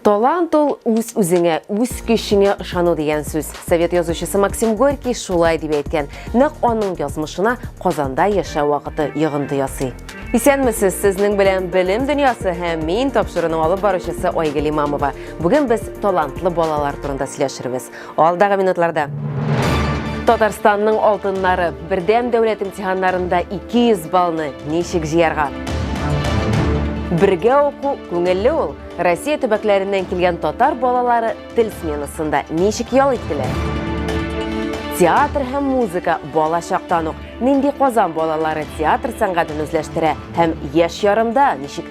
Талант ул үз-үзеңә, үз көчеңә ышану дигән сүз. Совет язучысы Максим Горький шулай дип әйткән. Нәкъ аның язмышына Казанда яшәү вакыты йогынты ясый. Исәнмесез, сезнең белән Белем дөньясы һәм мин тапшыруның алып баручысы Айгөл Имамова. Бүген без талантлы балалар турында сөйләшербез. Алдагы минутларда Татарстанның алтыннары бердәм дәүләт имтиханнарында 200 балны ничек җыярга? Бергә уку күңелле ул. Россия төбәкләреннән килгән татар балалары тел сменасында ничек ял иттеләр? Театр һәм музыка бала чактан ук нинди Казан балалары театр сәнгатен үзләштерә һәм яшь ярымда ничек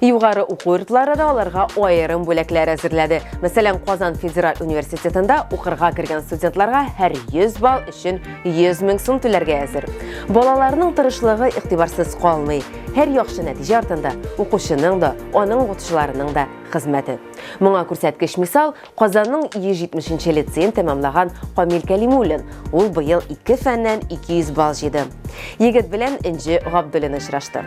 Югары уку йортлары да аларга аерым бүләкләр әзерләде. Мәсәлән, Казан федераль университетында укырга кергән студентларга һәр 100 балл өчен 100 мең сум түләргә әзер. Балаларның тырышлыгы игътибарсыз калмый. Һәр яхшы нәтиҗә артында укучының да, аның укытучыларының да хезмәте. Моңа күрсәткеч мисал Казанның 170 лицеен тәмамлаган Камил Кәлимуллин. Ул быел ике фәннән 200 балл җыйды. Егет белән Энҗе Габдуллина очрашты.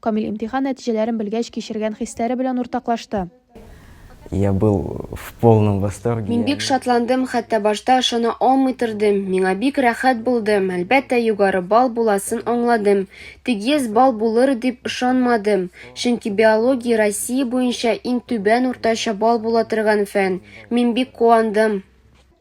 Камил имтихан нәтиҗәләрен белгәч кичергән хисләре белән уртаклашты. Я был в полном восторге. Мин бик шатландым, хәтта башта ышана алмый тордым. Миңа бик рәхәт булды. Әлбәттә, югары балл буласын аңладым. Тик 100 балл булыр дип ышанмадым. Чөнки биология Россия буенча иң түбән уртача балл була торган фән. Мин бик куандым.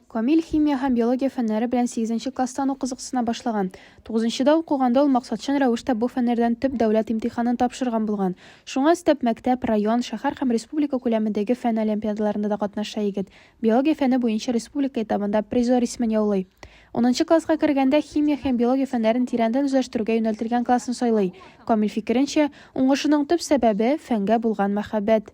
Камил химия һәм биология фәннәре белән сигезенче класстан ук кызыксына башлаган. Тугызынчыда укыганда ул максатчан рәвештә бу фәннәрдән төп дәүләт имтиханын тапшырган булган. Шуңа өстәп, мәктәп, район, шәһәр һәм республика күләмендәге фән олимпиадаларында да катнаша егет. Биология фәне буенча республика этабында призер исемен яулый. Унынчы класска кергәндә химия һәм биология фәннәрен тирәндән үзләштерүгә юнәлтелгән классын сайлый. Камил фикеренчә, уңышының төп сәбәбе, фәнгә булган мәхәббәт.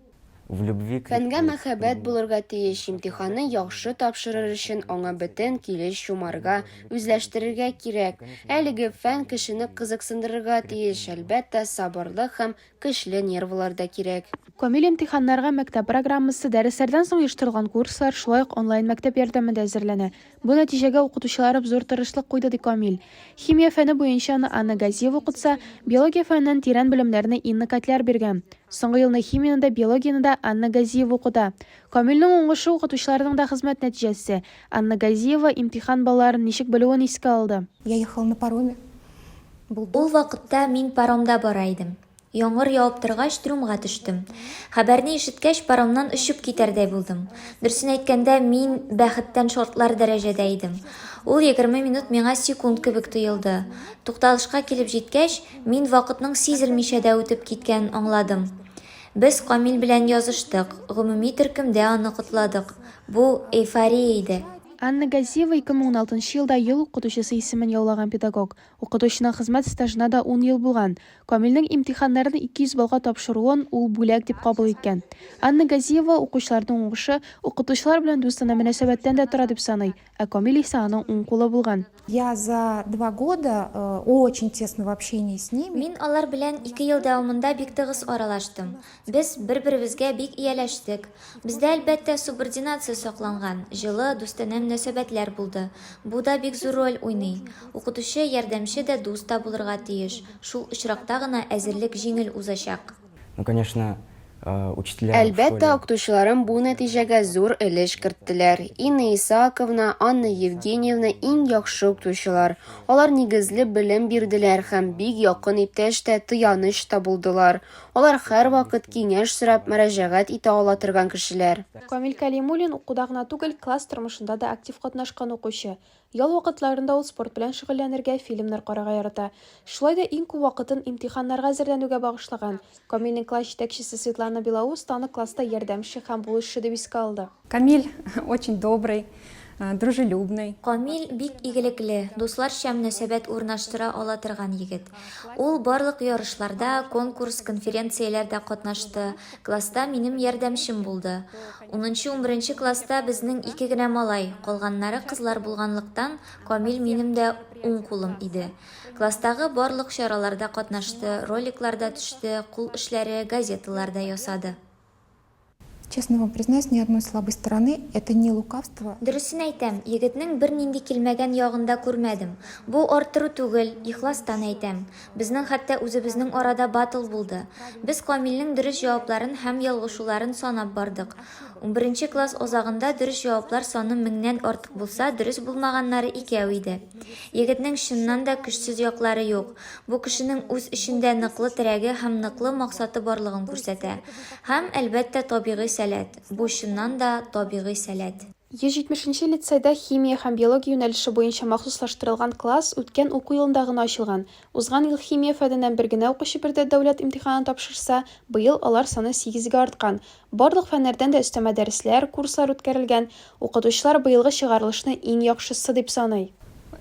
Фәнгә мәхәббәт булырга тиеш, имтиханны яхшы тапшырыр өчен аңа бөтен килеш чумарга, үзләштерергә кирәк. Әлеге фән кешене кызыксындырырга тиеш, әлбәттә, сабырлык һәм көчле нервылар да кирәк. Камил имтиханнарга мәктәп программасы, дәресләрдән соң оештырылган курслар, шулай ук онлайн-мәктәп ярдәмендә әзерләнә. Бу нәтиҗәгә укытучыларыб зур тырышлык куйды, ди Камил. Химия фәне буенча аны Анна Газиева укытса, биология фәненнән тирән белемнәрне Инна Котляр биргән. Соңгы елны химияне дә, биологияне дә Анна Газиева укыта. Камилнең уңышы, укытучыларның да хезмәт нәтиҗәсе. Анна Газиева имтихан балларын ничек белүен искә алды. Я ехал на пароме, булды. Ул вакытта мин паромда бара идем. Яңгыр явып торгач, трюмга төштем. Хәбәрне ишеткәч, паромнан очып китәрдәй булдым. Дөресен әйткәндә, мин бәхеттән шартлар дәрәҗәдә идем. Ул егерме минут миңа секунд кебек тоелды. Тукталышка килеп җиткәч, мин вакытның сизелмичә дә үтеп киткәнен аңладым. Без Камил белән языштык, гомуми төркемдә аны котладык. Бу, эйфория иде. Анна Газиева, 2016 елда ел укытучысы исемен яулаган педагог. Укытучының хезмәт стажына да ун ел булган. Камилнең имтиханнарны 200 баллга тапшыруын ул бүләк дип кабул иткән. Анна Газиева укучыларның уңышы укытучылар белән дустанә мөнәсәбәттән дә тора дип саный, ә Камил исә аның уң кулы булган. Я за два года очень тесного общения с ними. Мин алар белән ике ел дәвамында бик тыгыз аралаштым. Без бер-беребезгә бик ияләштек. Бездә, әлбәттә, субординация сакланган, җылы, дустанә мөнәсәбәтләр булды. Бу да бик зур роль уйный. Укытучы, ярдәмче дә, дус та булырга тиеш. Шул очракта гына әзерлек җиңел узачак. Ну, конечно, учителя в школе. Әлбәттә, укытучыларым бу нәтиҗәгә зур өлеш керттеләр. Инна Исааковна, Анна Евгеньевна, иң яхшы укытучылар. Алар нигезле белем бирделәр һәм бик якын иптәш тә, тыяныч та булдылар. Алар һәрвакыт киңәш сорап, мөрәҗәгать итә ала торган кешеләр. Камил Кәлимуллин, укуда гына түгел, класс тормышында да актив катнашкан укучы. Ял вакытларында ул спорт белән шөгыльләнергә, фильмнар карарга ярата. Шулай да иң күп вакытын имтиханнарга әзерләнүгә багышлаган. Камилнең класс җитәкчесе Светлана Белоус аны класста ярдәмче һәм булышчы дип искә алды. Камиль очень добрый, дружелюбный. Камиль бик игелекле, дусларча мөнәсәбәт урнаштыра ала торган егет. Ул барлык ярышларда, конкурс, конференцияләрдә катнашты, класста минем ярдәмчем булды. Унынчы, унберенче класста безнең ике генә малай, калганнары кызлар булганлыктан, Камиль минем дә уң кулым иде. Класстагы барлык чараларда катнашты, роликларда төште, кул эшләре, газеталар да ясады. Честно вам признаюсь, ни одной слабой стороны, это не лукавство. Дөресен әйтәм, егетнең бернинди килмәгән ягын да күрмәдем. Бу арттыру түгел, ихластан әйтәм. Безнең хәтта үзебезнең арада батл булды. Без Камилнең дөрес җавапларын һәм ялгышуларын санап бардык. Унберенче класс азагында дөрес җаваплар саны меңнән артык булса, дөрес булмаганнары икәү иде. Егетнең чыннан да көчсез яклары юк. Бу кешенең үз эчендә ныклы терәге һәм ныклы максаты барлыгын күрсәтә. Һәм, әлбәттә, табигый сәләт. Бу, чыннан да, табигый сәләт. 170 нче лицейда химия һәм биология юнәлеше буенча махсуслаштырылган класс үткән уку елында гына ачылган. Узган ел химия фәненнән бер генә укучы биредә дәүләт имтиханын тапшырса, быел алар саны сигезгә арткан. Барлык фәннәрдән дә өстәмә дәресләр, курслар үткәрелгән. Укытучылар быелгы чыгарылышны иң яхшысы дип саный.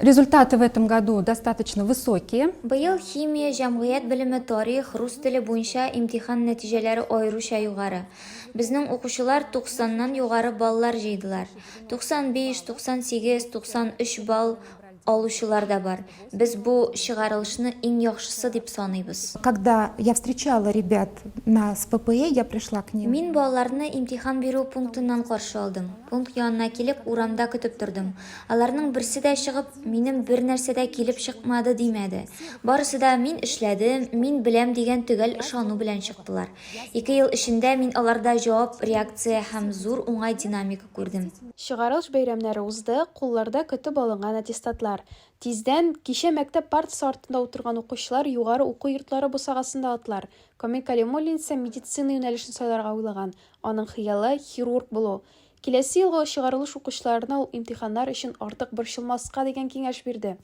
Результаты в этом году достаточно высокие. Быел химия, җәмгыять белеме, тарих, рус теле буенча имтихан нәтиҗәләре аеруча югары. Безнең укучылар 90 нан югары баллар җыйдылар. 95, 98, 93 балл. алучылар да бар. Без бу чыгарылышны иң яхшысы дип саныйбыз. Когда я встречала ребят на СППЭ, я пришла к ним. Мин балаларны имтихан бирү пунктыннан каршы алдым. Пункт янына килеп, урамда көтеп тордым. Аларның берсе дә чыгып, минем бер нәрсә дә килеп чыкмады димәде. Барысы да мин эшләдем, мин беләм дигән төгәл ышану белән чыктылар. Ике ел эчендә мин аларда җавап реакция һәм зур уңай динамик күрдем. Чыгарылыш бәйрәмнәре узды, кулларда көтеп алынган аттестатлар. Тиздән, кичә мәктәп партасы артында утырган укучылар югары уку йортлары бусагасында атлар. Камил Кәлимуллин исә медицина юнәлешен сайларга уйлаган, аның хыялы, хирург булу. Киләсе елгы чыгарылыш укучыларына ул имтиханнар өчен артык борчылмаска дигән киңәш бирде.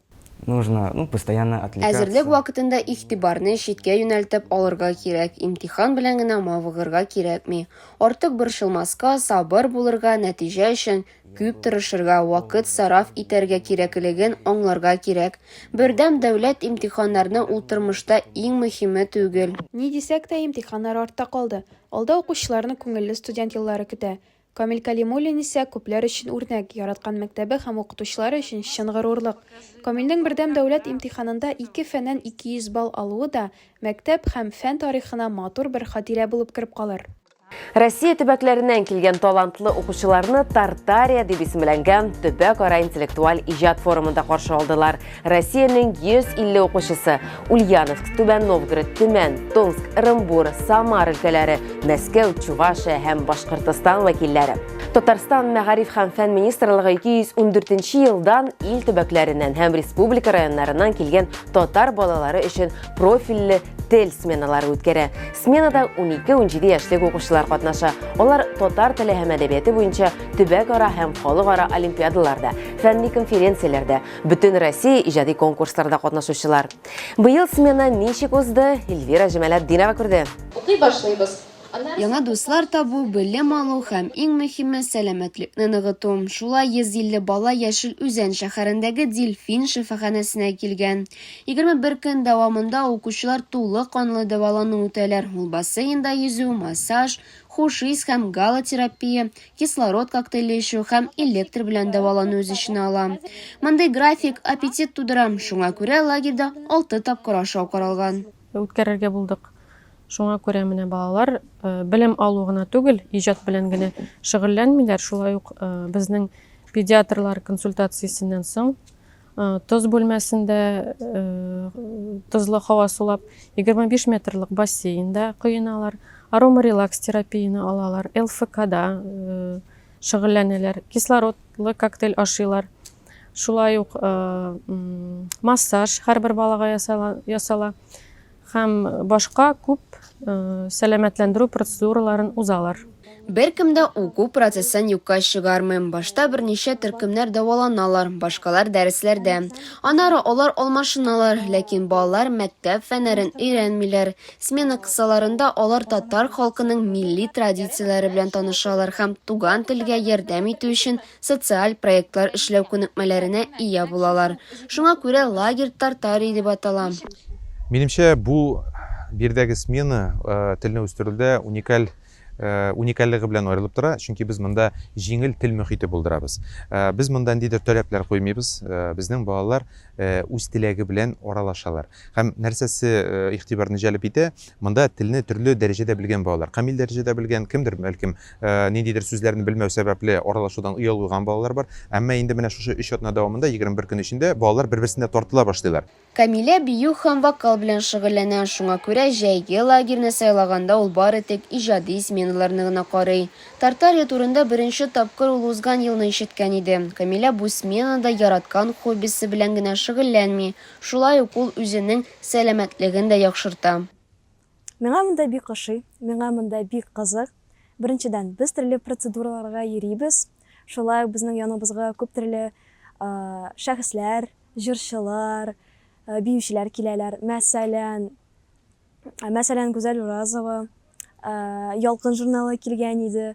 Нужно, ну, постоянно отвлекаться. Әзерлек вакытында игътибарны читкә юнәлтеп алырга кирәк, имтихан белән генә мавыгырга кирәкми. Артык борчылмаска, сабыр булырга, нәтиҗә өчен күп тырышырга, вакыт сараф итәргә кирәклеген аңларга кирәк. Бердәм дәүләт имтиханнарны ул тормышта иң мөһиме түгел. Ни дисәк тә, имтиханнар артта калды. Алда укучыларны күңелле студент еллары көтә. Камил Кәлимуллин исә күпләр өчен үрнәк, яраткан мәктәбе һәм укытучылары өчен чын горурлык. Камилнең Бердәм дәүләт имтиханында ике фәннән 200 балл алуы да мәктәп һәм фән тарихына матур бер хатирә булып кереп калыр. Россия төбәкләреннән килгән талантлы укучыларны Тартария дип исемләнгән төбәкара интеллектуаль иҗат форумында каршы алдылар. Россиянең 150 укучысы Ульяновск, Түбән Новгород, Төмән, Томск, Ырымбур, Самар өлкәләре, Мәскәү, Чувашия һәм Башкортостан вәкилләре. Татарстан мәгариф һәм фән министрлыгы 214 елдан ил төбәкләреннән һәм республика районнарыннан килгән татар балалары өчен профильле тел сменалары үткәрә. Сменада 12-17 яшьлек укучылар катнаша. Алар татар теле һәм әдәбияты буенча төбәк ара һәм халыкара олимпиадаларда, фәнни конференцияләрдә, Бөтен Россия иҗади конкурсларда катнашучылар. Быел смена ничек узды, Эльвира Җамаләтдинова күрде. Укый башлыйбыз. Яңа дуслар табу, белем алу һәм иң мөһиме, сәламәтлекне ныгыту. Шулай 150 бала Яшел Үзән шәһәрендәге Дельфин шифаханәсенә килгән. 21 көн дәвамында укучылар тулы канлы дәвалану үтәләр, ул бассейнда йөзү, массаж, хуш ис һәм галотерапия, кислород коктейле эчү һәм электр белән дәвалану үз эченә ала. Мондый график аппетит тудыра, шуңа күрә лагерьда 6 тапкыр ашау каралган. Үткәрергә булдык. Шуңа күрә менә балалар э, белем алу гына түгел, иҗат белән генә шөгыльләнмиләр, шулай ук э, безнең педиатрлар консультациясеннән соң Тоз бүлмәсендә тозлы һава сулап, 25 метрлык бассейнда коеналар, аромарелакс терапияне алалар, ЛФКда шөгыльләнәләр, кислородлы коктейль ашыйлар. Шулай ук массаж һәрбер балага ясала. Һәм башка күп сәламәтләндерү процедураларын узалар. Беркем дә уку процессын юкка чыгармый, башта берничә төркемнәр дәваланалар, башкалар дәресләрдә. Аннары алар алмашыналар, ләкин балалар мәктәп фәннәрен өйрәнмиләр. Смена кысаларында алар татар халкының милли традицияләре белән танышалар һәм туган телгә ярдәм итү өчен социаль проектлар эшләү күнекмәләренә ия булалар. Шуңа күрә лагерь Тартарий дип атала. Минемчә, бу биредәге смена телне үстерүдә уникаль уникальлыгы белән аерылып тора, чөнки без монда җиңел тел мөхите булдырабыз. Без монда ниндидер таләпләр куймыйбыз, безнең балалар үз теләге белән аралашалар. Һәм нәрсәсе игътибарны җәлеп итә, монда телне төрле дәрәҗәдә белгән балалар, камил дәрәҗәдә белгән, кемдер, бәлкем, Ниндидер сүзләрне белмәү сәбәпле аралашудан оялгыган балалар бар. Әмма инде менә шушы өч атна дәвамында, егерме бер көн эчендә балалар бер-берсенә тартыла башлыйлар. Камилә бию һәм вокал белән шөгыльләнә, шуңа күрә җәйге лагерьны сайлаганда ул бары тик иҗади сменаларны гына карый. Тартария турында беренче тапкыр ул узган елны ишеткән иде. Камилә бу сменада яраткан хоббисы белән генә шөгыльләнми, шулай ук ул үзенең сәламәтлеген дә яхшырта. Миңа монда бик ошый, миңа монда бик кызык. Беренчедән, без төрле процедураларга йөрибез, шулай ук безнең яныбызга күп төрле шәхесләр, җырчылар, биючеләр киләләр. Мәсәлән, мәсәлән, Гүзәл Уразова Ялкын журналы килгән иде.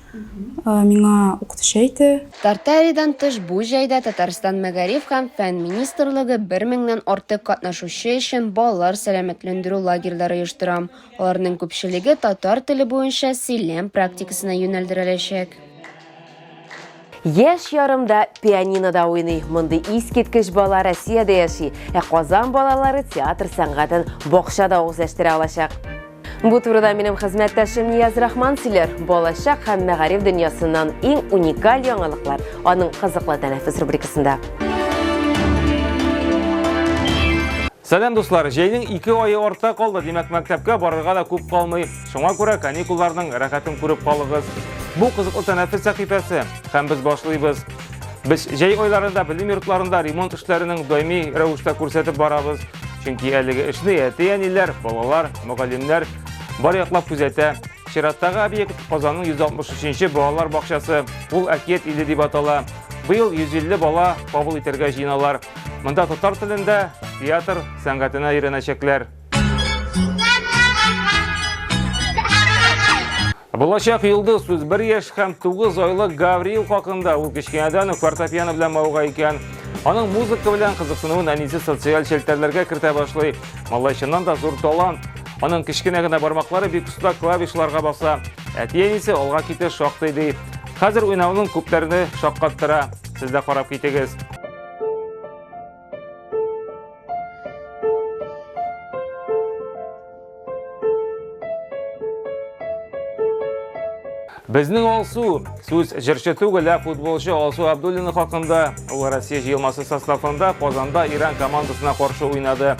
миңа укытучы әйтте. Тартаридан тыш бу җәйдә Татарстан Мәгариф һәм фән министрлыгы бер меңнән артык катнашучы өчен балалар сәламәтләндерү лагерьлары оештыра. Аларның күпчелеге татар теле буенча сөйләм практикасына юнәлдереләчәк. Яшь ярым да пианинода уйный. Мондый искиткеч бала Россиядә яши, ә Казан балалары театр сәнгатен бакчада үзләштерә алачак. Бу турыда минем хезмәттәшем Нияз Рахман сөйләр. Балачак һәм мәгариф дөньясыннан иң уникаль яңалыклар аның кызыклы тәнәфес рубрикасында. Сәлам дуслар, җәйнең ике айы артта калды, димәк мәктәпкә барырга да күп калмый. Шуңа күрә каникулларның рәхәтен күреп калыгыз. Бу кызыклы тәнәфес сәхифәсе, һәм без башлыйбыз. Без җәй айларында белем йортларында ремонт эшләренең даими рәвештә күрсәтеп барабыз. Чөнки әлеге эшне әти-әниләр, балалар, мөгаллимнәр бар яклап күзәтә. Чираттагы объект Казанның 163-нче балалар бакчасы. Ул Әкият иле дип атала. Быел 150 бала кабул итәргә җыеналар. Монда татар телендә театр сәнгатенә өйрәнәчәкләр. Булачак йолдыз сүз бер яшь һәм тугыз айлы Гавриил хакында ул кечкенәдән үк фортепиано белән мавыга икән. Аның музыка белән кызыксынуын әнисе социаль челтәрләргә кертә башлый. Малай чыннан да зур талант. Аның кечкенә генә бармаклары бик оста клавишларга баса. Әти-әнисе алга китә шактый ди. Хәзер уйнауның күпләрне шаккаттыра. Сез дә карап китегез. Безнең Алсу, сүз җырчы түгел, ә футболчы Алсу Абдуллина хакында, ул Россия җыелмасы составында Казанда Иран командасына каршы уйнады.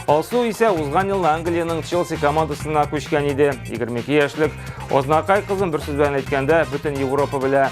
Алсу исә узган елны Англиянең Челси командасына күчкән иде. 22 яшьлек Ознакай кызын бер сүз белән әйткәндә, бөтен Европа белә.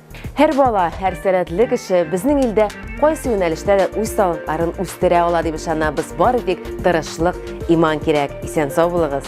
Һәр бала, һәр сәләтле кеше безнең илдә кайсы юнәлештә дә үз талантларын үстерә ала дип ышанабыз. Бары тик тырышлык, иман кирәк. Исән сау булыгыз.